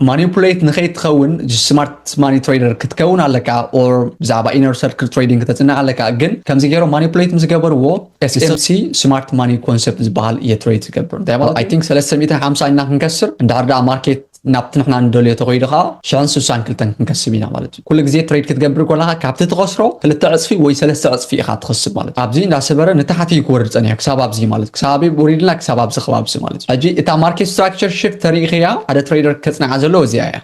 ማኒፑሌት ንከይትኸውን ስማርት ማኒ ትሬደር ክትከውን ኣለካ ኦር ብዛዕባ ኢነር ሰርክል ትሬዲንግ ክተፅንዕ ኣለካ ግን ከምዚ ገይሮም ማኒፑሌት ምስ ገበርዎ SMC ስማርት ማኒ ኮንሰፕት ዝበሃል እየ ትሬድ ዝገብር እንታይ ማለት ኣይ ቲንክ 350 ኢና ክንከስር እንድሕር ደኣ ማርኬት ናብቲ ንሕና ንደልዮ ተኸይዱ ከዓ ሽሕን ስሳን ክልተን ክንከስብ ኢና ማለት እዩ ኩሉ ግዜ ትሬድ ክትገብር ኮለኻ ካብቲ ትኸስሮ ክልተ ዕጽፊ ወይ ሰለስተ ዕጽፊ ኢኻ ትኸስብ ማለት ኣብዚ እንዳሰበረ ንታሕቲ እዩ ክወርድ ጸኒሑ ክሳብ ኣብዚ ማለት ክሳብ ኣበይ ወሪድና ክሳብ ኣብዚ ከባቢ ማለት ሕጂ እታ ማርኬት ስትራክቸር ሽፍት ተሪኢኽያ ሓደ ትሬደር ከጽንዓ ዘለዎ እዚኣ እያ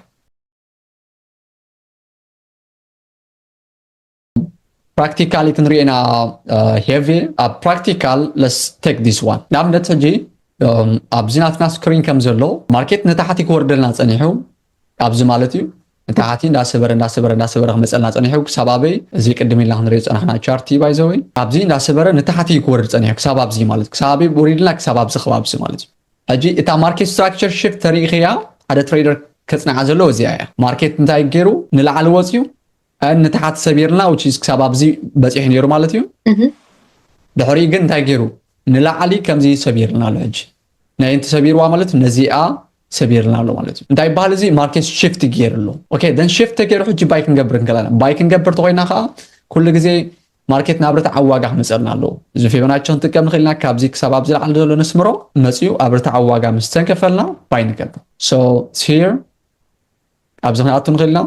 ፕራክቲካሊ ክንሪኦ ኢና ሄቪ ኣብ ፕራክቲካል ለስ ቴክ ዲስ ዋን ንኣብነት ሕጂ ኣብዚ ናትና ስክሪን ከም ዘሎ ማርኬት ንታሕቲ ክወርደልና ጸኒሑ ኣብዚ ማለት እዩ እንተ ሓቲ እንዳሰበረ እንዳሰበረ እንዳሰበረ ክመፀልና ፀኒሑ ክሳብ ኣበይ እዚ ቅድም ኢልና ክንሪኦ ዝፀናሕና ቻርቲ ባይዘወይ ኣብዚ እንዳሰበረ ንታሕቲ እዩ ክወርድ ፀኒሑ ክሳብ ኣብዚ ማለት ክሳብ ኣበይ ወሪድና ክሳብ ኣብዚ ከባብዚ ማለት እዩ ሕጂ እታ ማርኬት ስትራክቸር ሽፍት ተሪኢኽያ ሓደ ትሬደር ከፅንዓ ዘለዎ እዚኣ እያ ማርኬት እንታይ ገይሩ ንላዕሊ ወፅዩ ንታሓት ሰቢርና which is ክሳብ ኣብዚ በጺሑ ነይሩ ማለት እዩ ድሕሪኡ ግን እንታይ ገይሩ ንላዕሊ ከምዚ ሰቢርልና ኣሎ ሕጂ ናይ እንቲ ሰቢርዋ ማለት ነዚኣ ሰቢርልና ኣሎ ማለት እዩ እንታይ ይበሃል እዚ ማርኬት ሽፍት ገይሩ ኣሎ ኦኬ ደን ሽፍት ተገይሩ ሕጂ ባይ ክንገብር ንክእላና ባይ ክንገብር ተኮይና ከዓ ኩሉ ግዜ ማርኬት ናብ ርትዓዊ ዋጋ ክመፀልና ኣለዎ እዚ ፊቦናቸ ክንጥቀም ንክእል ኢና ካብዚ ክሳብ ኣብ ዝለዓለ ዘሎ ነስምሮ መፅኡ ኣብ ርትዓዊ ዋጋ ምስ ተንከፈልና ባይ ንገብር ሶ ሂር ኣብዚ ክንኣቱ ንኽእል ኢና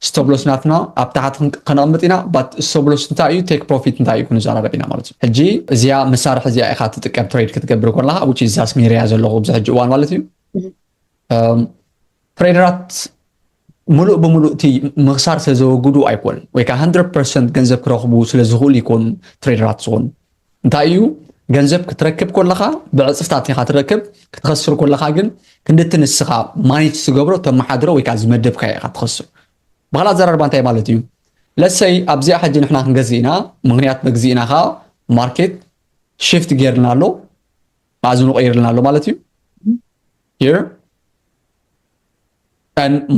ስተብሎስ ናትና ኣብ ታሕቲ ከነቕምጥ ኢና ባት ስተብሎስ እንታይ እዩ ቴክ ፕሮፊት እንታይ እዩ ክንዘራረብ ኢና ማለት እዩ ሕጂ እዚኣ መሳርሒ እዚኣ ኢኻ ትጥቀም ትሬድ ክትገብር ኮለኻ ውጭ እዛስ ሜርያ ዘለኹ ኣብዚ ሕጂ እዋን ማለት እዩ ትሬደራት ሙሉእ ብሙሉእ እቲ ምኽሳር ስለዘወግዱ ኣይኮን ወይ ከዓ 100 ፐርሰንት ገንዘብ ክረኽቡ ስለዝኽእሉ ይኮኑ ትሬደራት ዝኾኑ እንታይ እዩ ገንዘብ ክትረክብ ኮለኻ ብዕፅፍታት ኢኻ ትረክብ ክትኸስር ኮለኻ ግን ክንድቲ ንስኻ ማኔጅ ትገብሮ ተመሓድሮ ወይ ከዓ ዝመደብካዮ ኢኻ ትኸስር ብካልእ ኣዘራርባ እንታይ ማለት እዩ ለሰይ ኣብዚኣ ሕጂ ንሕና ክንገዝእ ኢና ምክንያት መግዚእና ከዓ ማርኬት ሽፍት ገይርልና ኣሎ ማእዝኑ ቀይርልና ኣሎ ማለት እዩ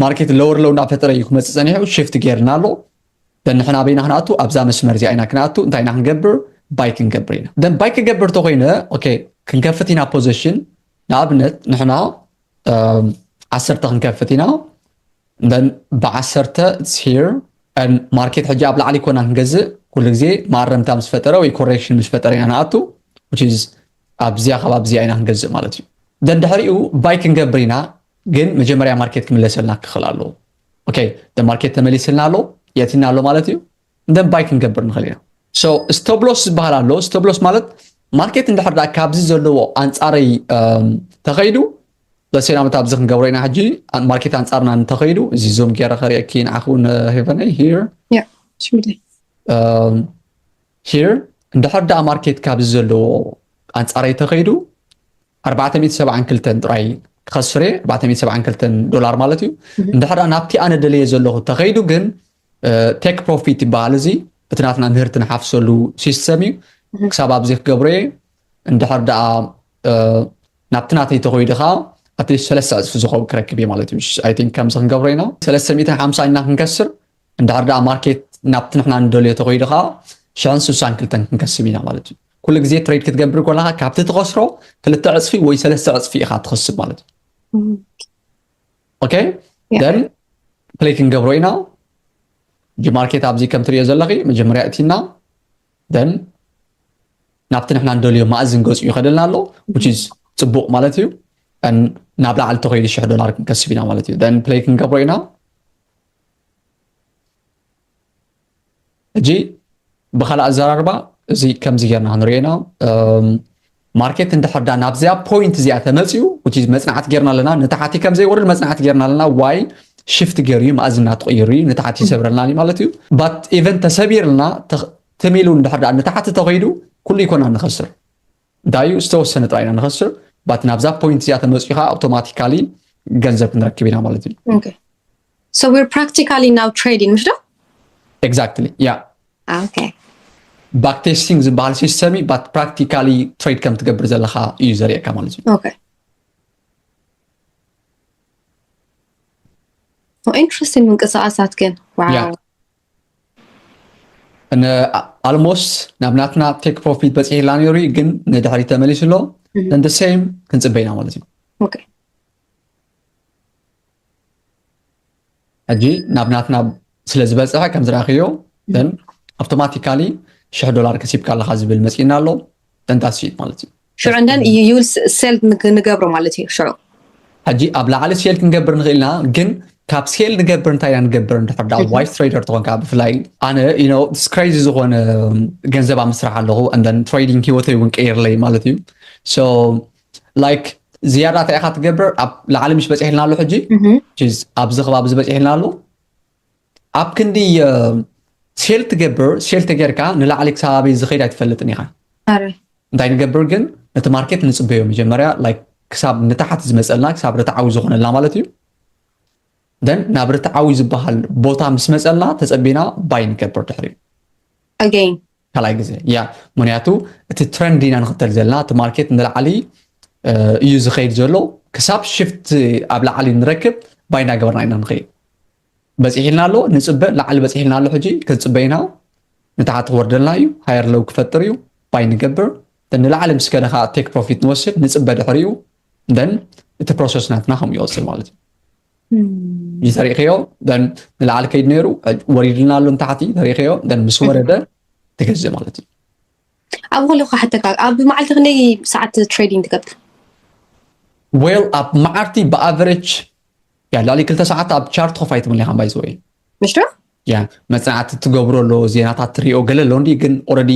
ማርኬት ለወር ለው እናፈጠረ እዩ ክመፅእ ፀኒሑ ሽፍት ጌርና ኣሎ ንሕና ኣበይና ክንኣቱ ኣብዛ መስመር እዚኣ ኢና ክንኣቱ እንታይ ኢና ክንገብር ባይ ክንገብር ኢና ደን ባይ ክገብር ተኮይነ ኦኬ ክንከፍት ኢና ፖዘሽን ንኣብነት ንሕና ዓሰርተ ክንከፍት ኢና ደን ብዓሰርተ ሂር ማርኬት ሕጂ ኣብ ላዕሊ ኮና ክንገዝእ ኩሉ ግዜ ማረምታ ምስ ፈጠረ ወይ ኮሬክሽን ምስ ፈጠረ ኢና ንኣቱ ኣብዚያ ከባቢ እዚኣ ኢና ክንገዝእ ማለት እዩ ደድሕሪኡ ባይ ክንገብር ኢና ግን መጀመርያ ማርኬት ክምለሰልና ክኽእል ኣለዎ ኦኬ ማርኬት ተመሊስልና ኣሎ የትና ኣሎ ማለት እዩ እንደን ባይ ክንገብር ንኽእል ኢና ሶ ስተብሎስ ዝበሃል ኣሎ ስተብሎስ ማለት ማርኬት እንድሕር ዳ ካብዚ ዘለዎ ኣንፃረይ ተኸይዱ ለሴና መት ኣብዚ ክንገብሮ ኢና ሕጂ ማርኬት ኣንፃርና እንተኸይዱ እዚ ዞም ገይረ ከሪአኪ ንዓኹ ንሄቨነይ ሂር Here እንድሕር ድኣ ማርኬት ካብዚ ዘለዎ ኣንጻረይ ተኸይዱ ኣርባዕተ ሚእቲ ሰብዓን ክልተን ጥራይ ክኸስር እየ ኣርባዕተ ሚእቲ ሰብዓን ክልተን ዶላር ማለት እዩ እንድሕር ድኣ ናብቲ ኣነ ደለየ ዘለኹ ተኸይዱ ግን ቴክ ፕሮፊት ይበሃል እዚ እቲ ናትና ምህርቲ ንሓፍሰሉ ሲስተም እዩ ክሳብ ኣብዚ ክገብሮ እየ እንድሕር ድኣ ናብቲ ናተይ ተኸይዱ ከዓ ኣትሊስት ሰለስተ ዕፅፊ ዝኸውን ክረክብ እየ ማለት እዩ ኣይ ቲንክ ከምዚ ክንገብሮ ኢና ሰለስተ ሚእትን ሓምሳን ኢና ክንከስር እንድሕር ደኣ ማርኬት ናብቲ ንሕና ንደልዮ ተኸይዱ ከዓ ሽሕን ስሳን ክልተን ክንከስብ ኢና ማለት እዩ ኩሉ ግዜ ትሬድ ክትገብር ኮለካ ካብቲ ትኸስሮ ክልተ ዕፅፊ ወይ ሰለስተ ዕፅፊ ኢኻ ትኸስብ ማለት እዩ ኦኬ ደን ፕሌይ ክንገብሮ ኢና እጂ ማርኬት ኣብዚ ከም ትሪኦ ዘለኺ መጀመርያ እቲና ደን ናብቲ ንሕና ንደልዮ ማእዝን ገፁ ይኸደልና ኣሎ ዊች ኢዝ ፅቡቕ ማለት እዩ ናብ ላዕሊ ተኸይዱ ሽሕ ዶላር ክንከስብ ኢና ማለት እዩ ደን ፕሌይ ክንገብሮ ኢና ሕጂ ብካልእ ኣዘራርባ እዚ ከምዚ ጌርና ክንሪኦ ኢና ማርኬት እንድሕር ዳ ናብዚኣ ፖይንት እዚኣ ተመፅኡ እቲ መፅናዕቲ ጌርና ኣለና ንታሕቲ ከም ዘይወርድ መፅናዕቲ ጌርና ኣለና ዋይ ሽፍት ገይሩ እዩ መኣዝና ትቕይሩ እዩ ንታሕቲ ይሰብረልና እዩ ማለት እዩ ባት ኢቨን ተሰቢርልና ትም ኢሉ እንድሕር ዳ ንታሕቲ ተኸይዱ ኩሉ ኢኮና ንኸስር ዳዩ ዝተወሰነ ጥራይ ኢና ንኸስር ባት ናብዛ ፖይንት እዚኣ ተመፅኡ ከዓ ኣውቶማቲካሊ ገንዘብ ክንረክብ ኢና ማለት እዩ ኦኬ ሶ ዊር ፕራክቲካሊ ናው ትሬዲንግ ምሽ ዶ ኤግዛክትሊ ያ ኦኬ ባክ ቴስቲንግ ዝበሃል ሲስተም እዩ ባት ፕራክቲካሊ ትሬድ ከም ትገብር ዘለካ እዩ ዘርእየካ ማለት እዩ ኦኬ ኢንትረስቲንግ ምንቅስቃሳት ግን ዋው ን ኣልሞስት ናብ ናትና ቴክ ፕሮፊት በጺሕላ ነይሩ እዩ ግን ንድሕሪት ተመሊሱ ኣሎ ን the same ክንጽበ ኢና ማለት እዩ ኦኬ ሕጂ ናብ ናትና ስለ ዝበጽሐ ከም ዝረኣኽዮ ን ኣውቶማቲካሊ ሽሕ ዶላር ከሲብካ ኣለኻ ዝብል መጺኡና ኣሎ ደንታት ሴልት ማለት እዩ ሽዑ እንደን ዩል ሴልት ንገብሮ ማለት እዩ ሽዑ ሕጂ ኣብ ላዕሊ ሴል ክንገብር ንኽእል ኢና ግን ካብ ሴል ንገብር እንታይ ኢና ንገብር እንድሕር ዳ ዋይስ ትሬደር ትኾንካ ብፍላይ ኣነ ዩኖ ስክሬዚ ዝኾነ ገንዘብ ኣብ ምስራሕ ኣለኹ እንደን ትሬዲንግ ሂወተይ እውን ቀይርለይ ማለት እዩ ሶ ላይክ ዝያዳ እንታይ ኢኻ ትገብር ኣብ ላዕሊ ምስ በፂሕልና ኣሎ ሕጂ ኣብዚ ከባቢ ዝበፂሕልና ኣሎ ኣብ ክንዲ ሴል ትገብር ሴል ተጌርካ ንላዕሊ ክሳብ ኣበይ ዝኸይድ ኣይትፈልጥን ኢኻ እንታይ ንገብር ግን ነቲ ማርኬት ንፅበዮ መጀመርያ ክሳብ ንታሕት ዝመፀልና ክሳብ ርትዓዊ ዝኾነልና ማለት እዩ ደን ናብ ርትዓዊ ዝበሃል ቦታ ምስ መፀልና ተፀቢና ባይ ንገብር ድሕሪ ካልኣይ ግዜ ያ ምክንያቱ እቲ ትረንድ ኢና ንኽተል ዘለና እቲ ማርኬት ንላዕሊ እዩ ዝኸይድ ዘሎ ክሳብ ሽፍት ኣብ ላዕሊ ንረክብ ባይ እናገበርና ኢና ንኸይድ በጺሒልና ኣሎ ንጽበ ላዕሊ በጺሒልና ኣሎ ሕጂ ክንጽበ ኢና ንታሕቲ ክወርደልና እዩ ሃየር ለው ክፈጥር እዩ ባይ ንገብር ንላዕሊ ምስ ከደ ከዓ ቴክ ፕሮፊት ንወስድ ንጽበ ድሕሪኡ ደን እቲ ፕሮሰስ ናትና ከም ይወፅል ማለት እዩ ተሪእኸዮ ደን ንላዕሊ ከይድ ነይሩ ወሪድልና ኣሎ ንታሕቲ ተሪእኸዮ ደን ምስ ወረደ ትገዝእ ማለት እዩ ኣብ ከለኩ ሓተካ ኣብ መዓልቲ ክንደይ ሰዓት ትሬዲንግ ትገብር ዌል ኣብ መዓልቲ ብኣቨሬጅ ያ ልዕሊ ክልተ ሰዓት ኣብ ቻርት ኮፍ ኣይትብልን ኢኻ ባይ ዝወይ مش ده؟ ያ መፅናዕቲ ትገብሮ ኣሎ ዜናታት ትሪኦ ገለ ኣሎ እንዲ ግን ኦረዲ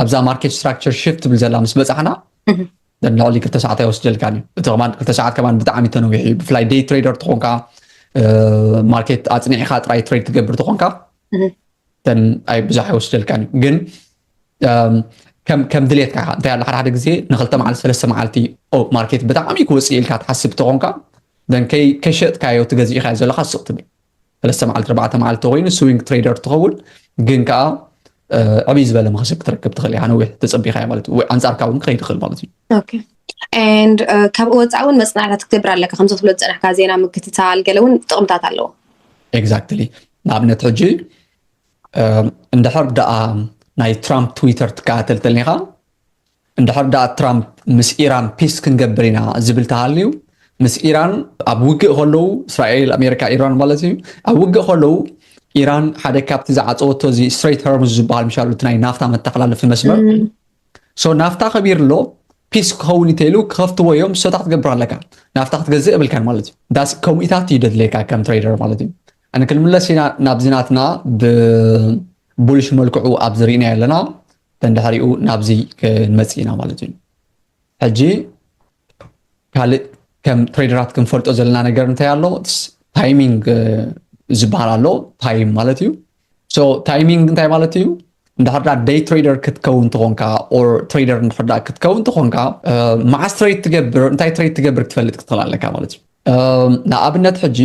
ኣብዛ ማርኬት ስትራክቸር ሽፍት ትብል ዘላ ምስ በፃሕና ልዕሊ ክልተ ሰዓት ኣይወስደልካን እዩ እቲ ከማን ክልተ ሰዓት ከማን ብጣዕሚ ተነዊሑ እዩ ብፍላይ ደይ ትሬደር ትኾንካ ማርኬት ኣፅኒዕካ ጥራይ ትሬድ ትገብር ትኾንካ ኣይ ብዙሕ ኣይወስደልካን እዩ ግን ከም ድሌትካ ኢኻ እንታይ ኣሎ ሓደ ሓደ ግዜ ንክልተ መዓልቲ ሰለስተ መዓልቲ ማርኬት ብጣዕሚ ክወፅእ ኢልካ ትሓስብ ተኾንካ ደን ከይሸጥካዮ ትገዚእካዮ ዘለካ ስቕ ትብል ሰለስተ መዓልቲ ኣርባዕተ መዓልቲ ኮይኑ ስዊንግ ትሬደር ትኸውን ግን ከዓ ዕብይ ዝበለ መኸሰብ ክትረክብ ትኽእል ኢኻ ነዊሕ ተፀቢኻዮ ማለት እዩ ኣንፃርካ እውን ክኸይድ ይኽእል ማለት እዩ ኤንድ ካብኡ ወፃኢ እውን መፅናዕታት ክትገብር ኣለካ ከምዚ ክትብሎ ዝፀናሕካ ዜና ምክትታል ገለ እውን ጥቕምታት ኣለዎ ኤግዛክትሊ ንኣብነት ሕጂ እንድሕር ድኣ ናይ ትራምፕ ትዊተር ትከታተል ተልኒኻ እንድሕር ድኣ ትራምፕ ምስ ኢራን ፒስ ክንገብር ኢና ዝብል ተሃልዩ ምስ ኢራን ኣብ ውግእ ከለዉ እስራኤል ኣሜሪካ ኢራን ማለት እዩ ኣብ ውግእ ከለዉ ኢራን ሓደ ካብቲ ዝዓፀወቶ እዚ ስትሬት ሆርሙዝ ዝበሃል ምሻሉ እቲ ናይ ናፍታ መተሓላለፊ መስመር ሶ ናፍታ ከቢር ኣሎ ፒስ ክኸውን እንተኢሉ ክኸፍትዎ እዮም ሰታ ክትገብር ኣለካ ናፍታ ክትገዝእ የብልካን ማለት እዩ ዳስ ከምኢታት እዩ ደድለየካ ከም ትሬደር ማለት እዩ ኣነ ክንምለስ ኢና ናብዚ ናትና ብቡልሽ መልክዑ ኣብዚ ሪእናዮ ኣለና ተንድሕሪኡ ናብዚ ክንመጽእ ኢና ማለት እዩ ሕጂ ካልእ ከም ትሬደራት ክንፈልጦ ዘለና ነገር እንታይ ኣሎ ታይሚንግ ዝበሃል ኣሎ ታይም ማለት እዩ ሶ ታይሚንግ እንታይ ማለት እዩ እንድሕርዳ ደይ ትሬደር ክትከውን ትኾንካ ኦር ትሬደር እንድሕርዳ ክትከውን ትኾንካ መዓስ ትሬድ ትገብር እንታይ ትሬድ ትገብር ክትፈልጥ ክትኽእል ኣለካ ማለት እዩ ንኣብነት ሕጂ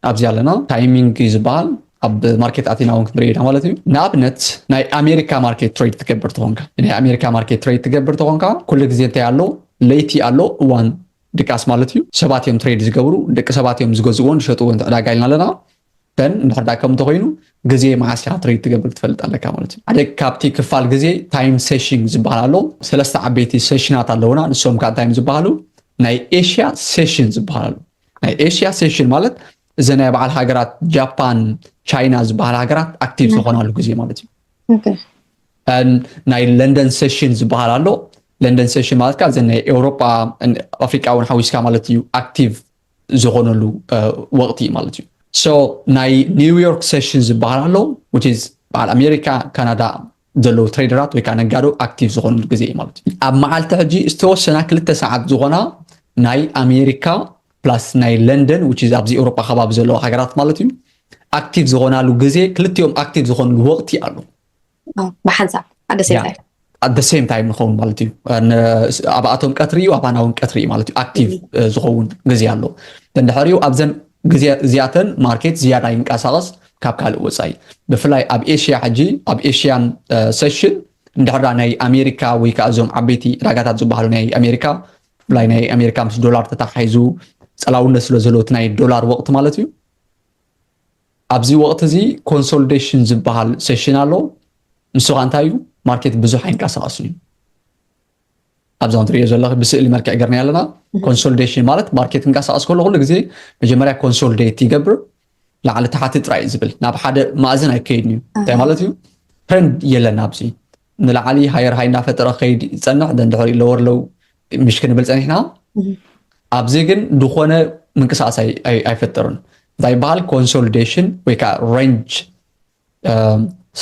ኣብዚ ኣለና ታይሚንግ እዩ ዝበሃል ኣብ ማርኬት ኣቲና እውን ክንሪኦ ኢና ማለት እዩ ንኣብነት ናይ ኣሜሪካ ማርኬት ትሬድ ትገብር ተኾንካ ናይ ኣሜሪካ ማርኬት ትሬድ ትገብር ተኾንካ ኩሉ ግዜ እንታይ ኣሎ ለይቲ ኣሎ እዋን ድቃስ ማለት እዩ ሰባት እዮም ትሬድ ዝገብሩ ደቂ ሰባት እዮም ዝገዝእዎን ዝሸጥዎን ዕዳጋ ኢልና ኣለና ደን እንድሕር ዳኣ ከም እንተኾይኑ ግዜ መዓስ ኢኻ ትሪድ ትገብር ትፈልጥ ኣለካ ማለት እዩ ሓደ ካብቲ ክፋል ግዜ ታይም ሴሽን ዝበሃል ኣሎ ሰለስተ ዓበይቲ ሴሽናት ኣለውና ንሶም ከዓ እንታይ እዮም ዝበሃሉ ናይ ኤሽያ ሴሽን ዝበሃል ኣሎ ናይ ኤሽያ ሴሽን ማለት እዚ ናይ በዓል ሃገራት ጃፓን ቻይና ዝበሃል ሃገራት ኣክቲቭ ዝኾናሉ ግዜ ማለት እዩ ናይ ለንደን ሴሽን ዝበሃል ኣሎ ለንደን ሴሽን ማለት ከዓ እዚ ናይ ኤውሮጳ ኣፍሪቃ እውን ሓዊስካ ማለት እዩ ኣክቲቭ ዝኾነሉ ወቕቲ እዩ ማለት እዩ ሶ ናይ ኒውዮርክ ሴሽን ዝበሃል ኣሎ which is በዓል ኣሜሪካ ካናዳ ዘለዉ ትሬደራት ወይ ከዓ ነጋዶ ኣክቲቭ ዝኾኑሉ ግዜ እዩ ማለት እዩ ኣብ መዓልቲ ሕጂ ዝተወሰና ክልተ ሰዓት ዝኾና ናይ ኣሜሪካ ፕላስ ናይ ለንደን which is ኣብዚ ኤውሮጳ ከባቢ ዘለዋ ሃገራት ማለት እዩ ኣክቲቭ ዝኾናሉ ግዜ ክልቲኦም ኣክቲቭ ዝኾኑሉ ወቕቲ ኣሎ ብሓንሳብ ኣደ ሴምታይ ኣደ ሴም ታይም ንኸውን ማለት እዩ ኣብኣቶም ቀትሪ እዩ ኣባና እውን ቀትሪ እዩ ማለት እዩ ኣክቲቭ ዝኸውን ግዜ ኣሎ እንድሕር እዩ ኣብዘን ግዜ እዚኣተን ማርኬት ዝያዳ ይንቀሳቐስ ካብ ካልእ ወፃኢ ብፍላይ ኣብ ኤሽያ ሕጂ ኣብ ኤሽያን ሰሽን እንድሕራ ናይ ኣሜሪካ ወይ ከዓ እዞም ዓበይቲ ዕዳጋታት ዝበሃሉ ናይ ኣሜሪካ ብፍላይ ናይ ኣሜሪካ ምስ ዶላር ተታሓሒዙ ፀላውነት ስለ ዘሎ እቲ ናይ ዶላር ወቅቲ ማለት እዩ ኣብዚ ወቕቲ እዚ ኮንሶልዴሽን ዝበሃል ሴሽን ኣሎ ንሱ ከዓ እንታይ እዩ ማርኬት ብዙሕ ኣይንቀሳቐስን እዩ ኣብዛ ትሪኦ ዘለኺ ብስእሊ መልክዕ ገርና ኣለና ኮንሶልዴሽን ማለት ማርኬት ክንቀሳቀስ ከሎ ኩሉ ግዜ መጀመርያ ኮንሶልዴት ይገብር ላዕሊ ታሕቲ ጥራይ ዝብል ናብ ሓደ ማእዝን ኣይከይድን እዩ እንታይ ማለት እዩ ትሬንድ የለን ኣብዚ ንላዕሊ ሃየር ሃይ እናፈጠረ ክኸይድ ይፀንሕ ደንድሕሪ ለወር ለው ምሽ ክንብል ፀኒሕና ኣብዚ ግን ዝኾነ ምንቅስቃስ ኣይፈጠሩን እንታይ ይበሃል ኮንሶሊዴሽን ወይ ከዓ ሬንጅ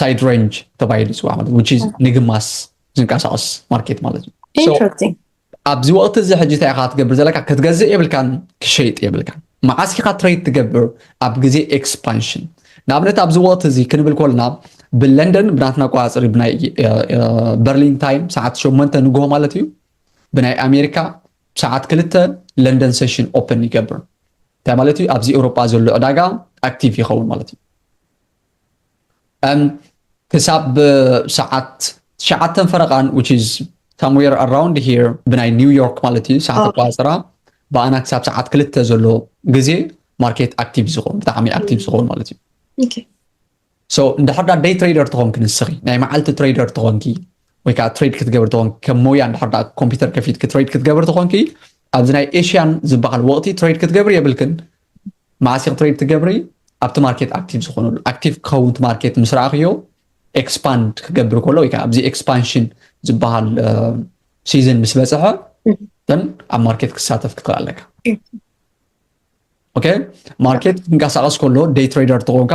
ሳይድ ሬንጅ ተባሂሉ ይፅዋዕ ማለት ዊች ንግማስ ዝንቀሳቀስ ማርኬት ማለት እዩ ኣብዚ ወቅቲ እዚ ሕጂ እንታይ ኢካ ክትገብር ዘለካ ክትገዝእ የብልካን ክትሸይጥ የብልካን መዓስ ኢካ ትሬድ ትገብር ኣብ ግዜ ኤክስፓንሽን ንኣብነት ኣብዚ ወቅቲ እዚ ክንብል ኮልና ብለንደን ብናትና ኣቆጻጽሪ ብናይ በርሊን ታይም ሰዓት ሸሞንተ ንግሆ ማለት እዩ ብናይ ኣሜሪካ ሰዓት ክልተ ለንደን ሴሽን ኦፕን ይገብር እንታይ ማለት እዩ ኣብዚ ኤውሮጳ ዘሎ ዕዳጋ ኣክቲቭ ይኸውን ማለት እዩ ክሳብ ሰዓት ትሽዓተን ፈረቓን which is somewhere around here ብናይ ኒውዮርክ ማለት እዩ ሰዓት ኣቆፃፅራ ብኣና ክሳብ ሰዓት ክልተ ዘሎ ግዜ ማርኬት ኣክቲቭ ዝኸውን ብጣዕሚ ኣክቲቭ ዝኸውን ማለት እዩ ሶ እንድሕር ዳ ደይ ትሬደር ትኾንኪ ንስኺ ናይ መዓልቲ ትሬደር ትኾንኪ ወይ ከዓ ትሬድ ክትገብር ትኾንኪ ከም ሞያ እንድሕር ዳ ኮምፒውተር ከፊትኪ ትሬድ ክትገብር ትኾንኪ ኣብዚ ናይ ኤሽያን ዝበሃል ወቕቲ ትሬድ ክትገብር የብልክን መዓስ ኢኪ ትሬድ ትገብሪ ኣብቲ ማርኬት ኣክቲቭ ዝኮነሉ ኣክቲቭ ክከውን እቲ ማርኬት ምስ ረኣክዮ ኤክስፓንድ ክገብር ከሎ ወይ ከዓ ኣብዚ ኤክስፓንሽን ዝበሃል ሲዝን ምስ በፅሐ ን ኣብ ማርኬት ክሳተፍ ክትክእል ኣለካ ኦኬ ማርኬት ክንቀሳቀስ ከሎ ደይ ትሬደር ተኮንካ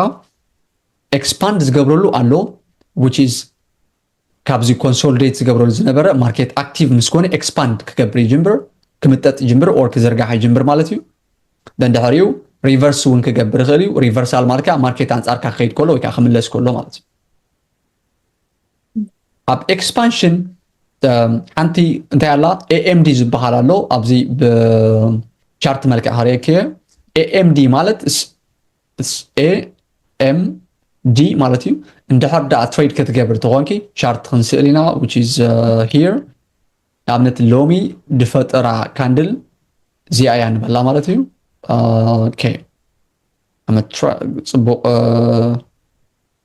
ኤክስፓንድ ዝገብረሉ ኣሎ ዊች ኢዝ ካብዚ ኮንሶልዴት ዝገብረሉ ዝነበረ ማርኬት ኣክቲቭ ምስ ኮነ ኤክስፓንድ ክገብር ይጅምብር ክምጠጥ ይጅምብር ኦር ክዝርጋሕ ይጅምብር ማለት እዩ ደን ድሕሪኡ ሪቨርስ እውን ክገብር ይኽእል እዩ ሪቨርሳል ማለት ከዓ ማርኬት ኣንፃርካ ክኸይድ ከሎ ወይ ከዓ ክምለስ ከሎ ማለት እዩ ኣብ ኤክስፓንሽን ሓንቲ እንታይ ኣላ ኤኤምዲ ዝበሃል ኣሎ ኣብዚ ብቻርት መልክዕ ሃሪየክ ኤኤምዲ ማለት SAMD ማለት እዩ እንድሕር ደኣ ትሬድ ከትገብር ተኾንኪ ቻርት ክንስእል ኢና which is uh, here ንኣብነት ሎሚ ድፈጠራ ካንድል እዚኣ እያ ንበላ ማለት እዩ ኦኬ ጽቡቅ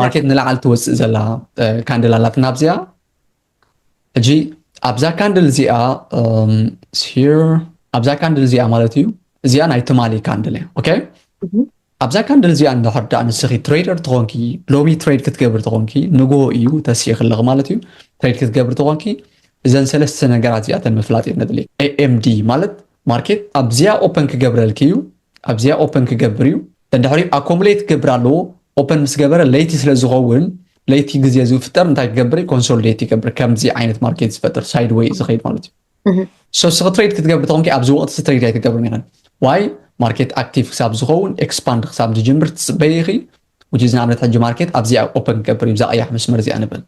ማርኬት ንላዕሊ ትወፅእ ዘላ ካንድል ኣላትና ኣብዚኣ ሕጂ ኣብዛ ካንድል እዚኣ ኣብዛ ካንድል እዚኣ ማለት እዩ እዚኣ ናይ ትማሊ ካንድል እያ ኦኬ ኣብዛ ካንድል እዚኣ እንድሕር ዳኣ ንስኺ ትሬደር ትኾንኪ ሎሚ ትሬድ ክትገብር ትኾንኪ ንግሆ እዩ ተስኢ ክለኽ ማለት እዩ ትሬድ ክትገብር ትኾንኪ እዘን ሰለስተ ነገራት እዚኣተን ምፍላጥ እየ ነድሊ ኤኤምዲ ማለት ማርኬት ኣብዚኣ ኦፐን ክገብረልኪ እዩ ኣብዚኣ ኦፐን ክገብር እዩ ደድሕሪኡ ኣኮሙሌት ክገብር ኣለዎ ኦፐን ምስ ገበረ ለይቲ ስለ ዝኸውን ለይቲ ግዜ ዝፍጠር እንታይ ክገብር እዩ ኮንሶሊዴት ይገብር ከምዚ ዓይነት ማርኬት ዝፈጥር ሳይድ ወይ ዝኸይድ ማለት እዩ ሶ ስኺ ትሬድ ክትገብር ተኾንኪ ኣብዚ ወቅቲ እዚ ትሬድ ኣይትገብርን ኢኸን ዋይ ማርኬት ኣክቲቭ ክሳብ ዝኸውን ኤክስፓንድ ክሳብ ዝጅምር ትፅበይ ኢኺ ውጅዝ ንኣብነት ሕጂ ማርኬት ኣብዚኣ ኦፐን ክገብር እዩ ብዛ ቀያሕ መስመር እዚኣ ንበል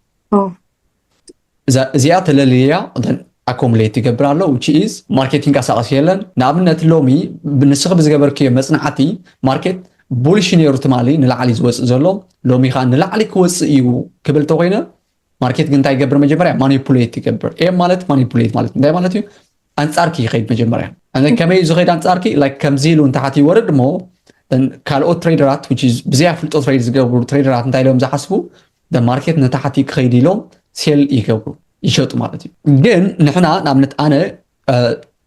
እዚኣ ተለልያ እተን ኣኮሙሌት ይገብር ኣሎ which is ማርኬት ይንቀሳቀስ የለን ንኣብነት ሎሚ ንስኺ ብዝገበርክዮ መጽናዕቲ ማርኬት ቡሊሽ ነይሩ ትማሊ ንላዕሊ ዝወጽእ ዘሎ ሎሚ ከኣ ንላዕሊ ክወጽእ እዩ ክብል ተኮይነ ማርኬት ግን እንታይ ይገብር መጀመርያ ማኒፑሌት ይገብር ኤም ማለት ማኒፑሌት ማለት እንታይ ማለት እዩ ኣንጻርኪ ይኸይድ መጀመርያ ከመይ እዩ ዝኸይድ ኣንጻርኪ ላይክ ከምዚ ኢሉ ንታሕቲ ይወርድ እሞ ካልኦት ትሬደራት ብዘይ ኣፍልጦ ትሬድ ዝገብሩ ትሬደራት እንታይ ኢሎም ዝሓስቡ the market ንታሕቲ ክኸይድ ኢሎም ሴል ይገብሩ ይሸጡ ማለት እዩ ግን ንሕና ንኣብነት ኣነ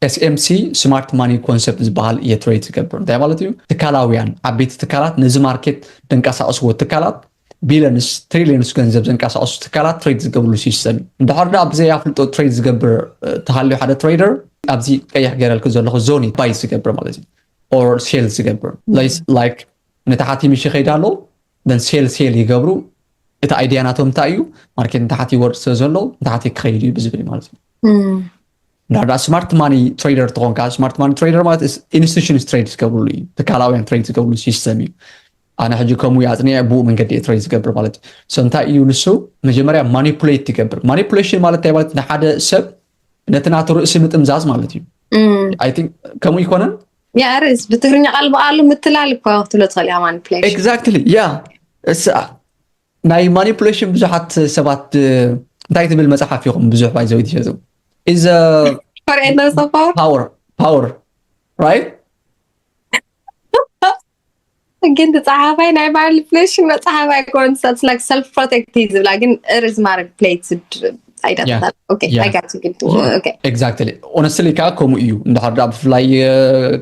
ኤስኤምሲ ስማርት ማኒ ኮንሰፕት ዝበሃል እየ ትሬድ ዝገብር እንታይ ማለት እዩ ትካላውያን ዓበይቲ ትካላት ነዚ ማርኬት ደንቀሳቀስዎ ትካላት ቢለንስ ትሪሊየንስ ገንዘብ ዘንቀሳቀሱ ትካላት ትሬድ ዝገብርሉ ሲስተም እዩ እንድሕር ዳ ብዘይ ኣፍልጦ ትሬድ ዝገብር ተሃልዩ ሓደ ትሬደር ኣብዚ ቀይሕ ገረልክ ዘለኹ ዞኒ ባይ ዝገብር ማለት እዩ ኦር ሴል ዝገብር ላይክ ንታሕቲ ምሽ ይኸይድ ኣሎ ነዚ ሴል ሴል ይገብሩ እቲ ኣይድያ ናቶም እንታይ እዩ ማርኬት ንታሕቲ ይወርድ ስለ ዘሎ ንታሕቲ ክኸይድ እዩ ብዝብል ማለት እዩ እንድሕር ደኣ ስማርት ማኒ ትሬደር ትኾንካ ስማርት ማኒ ትሬደር ማለት ኢንስቲቱሽንስ ትሬድ ዝገብርሉ እዩ ትካላውያን ትሬድ ዝገብርሉ ሲስተም እዩ ኣነ ሕጂ ከምኡ እዩ ኣፅኒዐ ብኡ መንገዲ እየ ትሬድ ዝገብር ማለት እዩ ሶ እንታይ እዩ ንሱ መጀመርያ ማኒፑሌት ትገብር ማኒፑሌሽን ማለት እንታይ ማለት ንሓደ ሰብ ነቲ ናቱ ርእሲ ምጥምዛዝ ማለት እዩ ከምኡ ይኮነን ያርስ ብትግርኛ ቃል ብቃሉ ምትላል እኮ ክትብሎ ትኽእል እያ ማኒፕሌሽን ኤግዛክትሊ ያ እስኣ ናይ ማኒፕሌሽን ብዙሓት ሰባት እንታይ ትብል መፅሓፍ ኢኹም ብዙሕ ባይዘው ትሸጡ ኢዘ ፓወር ፓወር ራይት ግን ዝፀሓፋይ ናይ ባዕሉ ፍለሽ መፅሓፍ ኣይኮን ሰልፍ ላይክ ሰልፍ ፕሮቴክት እዩ ዝብላ ግን እርዝ ማድረግ ፕሌት ኣይዳታታል ኦኬ Yeah. ኣይጋት ግን ኦኬ ኤግዛክትሊ ኦነስትሊ ከዓ ከምኡ እዩ እንድሕር ደኣ ብፍላይ እ፣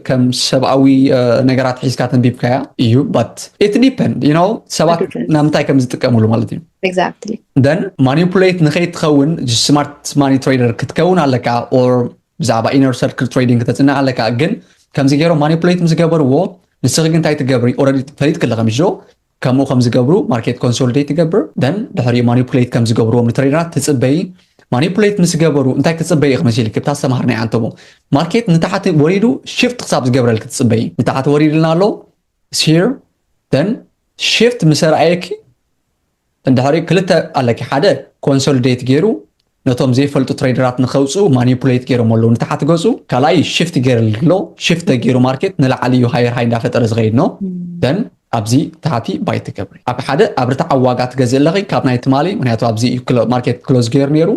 ከም ሰብኣዊ እ፣ ነገራት ሒዝካ ተንቢብካያ እዩ ባት ኢት ዲፐንድ ዩ ኖው ሰባት It depends. ናብ ምንታይ ከም ዝጥቀምሉ ማለት እዩ ኤግዛክትሊ ደን ማኒፑሌት ንከይትኸውን ስማርት ማኒ ትሬደር ክትከውን ኣለካ ኦር ብዛዕባ ኢነር ሰርክል ትሬዲንግ ክተጽንዕ ኣለካ ግን ከምዚ ገይሮም ማኒፕሌት ምስ ገበርዎ ንስኺ ግን እንታይ ትገብሪ ኦረዲ ፈሊጥኪ ኣለኺ ምሽ ዶ ከምኡ ከም ዝገብሩ ማርኬት ኮንሶሊዴት ትገብር ደን ድሕሪኡ ማኒፕሌት ከም ዝገብርዎም ንትሬደራት ትጽበይ ማኒፕሌት ምስ ገበሩ እንታይ ክትጽበይ ኢኺ መሲልኪ ብታ ዝተምሃርናይ ኣንተሞ ማርኬት ንታሕቲ ወሪዱ ሽፍት ክሳብ ዝገብረልኪ ትጽበይ ንታሕቲ ወሪድልና ኣሎ ሲር ደን ሽፍት ምስ ረኣየኪ እንድሕሪ ክልተ ኣለኪ ሓደ ኮንሶልዴት ጌሩ ነቶም ዘይፈልጡ ትሬደራት ንከውፅኡ ማኒፑሌት ጌሮሞ ኣለዉ ንታሓት ገፁ ካልኣይ ሽፍት ጌርል ኣሎ ሽፍት ተጌሩ ማርኬት ንላዕሊ እዩ ሃየር ሃይ እንዳፈጠረ ዝከይድ ን ደን ኣብዚ ታሕቲ ባይ ትገብሪ ኣብ ሓደ ኣብ ርትዓዊ ዋጋ ትገዝእ ኣለኪ ካብ ናይ ትማሊ ምክንያቱ ኣብዚ እዩ ማርኬት ክሎዝ ጌሩ ኔሩ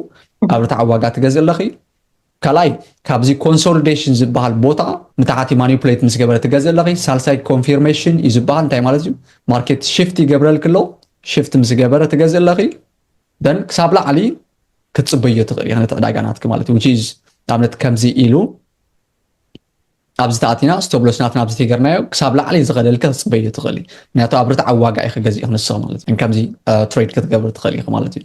ኣብ ርትዓዊ ዋጋ ትገዝእ ኣለኪ ካልኣይ ካብዚ ኮንሶልዴሽን ዝበሃል ቦታ ንታሕቲ ማኒፕሌት ምስ ገበረ ትገዝ ኣለኺ ሳልሳይ ኮንፊርሜሽን እዩ ዝበሃል እንታይ ማለት እዩ ማርኬት ሽፍት ይገብረልኪ ኣሎ ሽፍት ምስ ገበረ ትገዝ ኣለኺ ደን ክሳብ ላዕሊ ክትፅበዮ ትኽእል ነቲ ዕዳጋ ናትኪ ማለት እዩ ዊች ኢዝ ንኣብነት ከምዚ ኢሉ ኣብዚ ተኣቲና ስተብሎስ ናትና ኣብዚ ተገርናዮ ክሳብ ላዕሊ ዝኸደልከ ክትፅበዩ ትኽእል እዩ ምክንያቱ ኣብ ርትዓዊ ዋጋ ኢኺ ገዚእኺ ንስኺ ማለት እዩ ከምዚ ትሬድ ክትገብሪ ትኽእል ኢኺ ማለት እዩ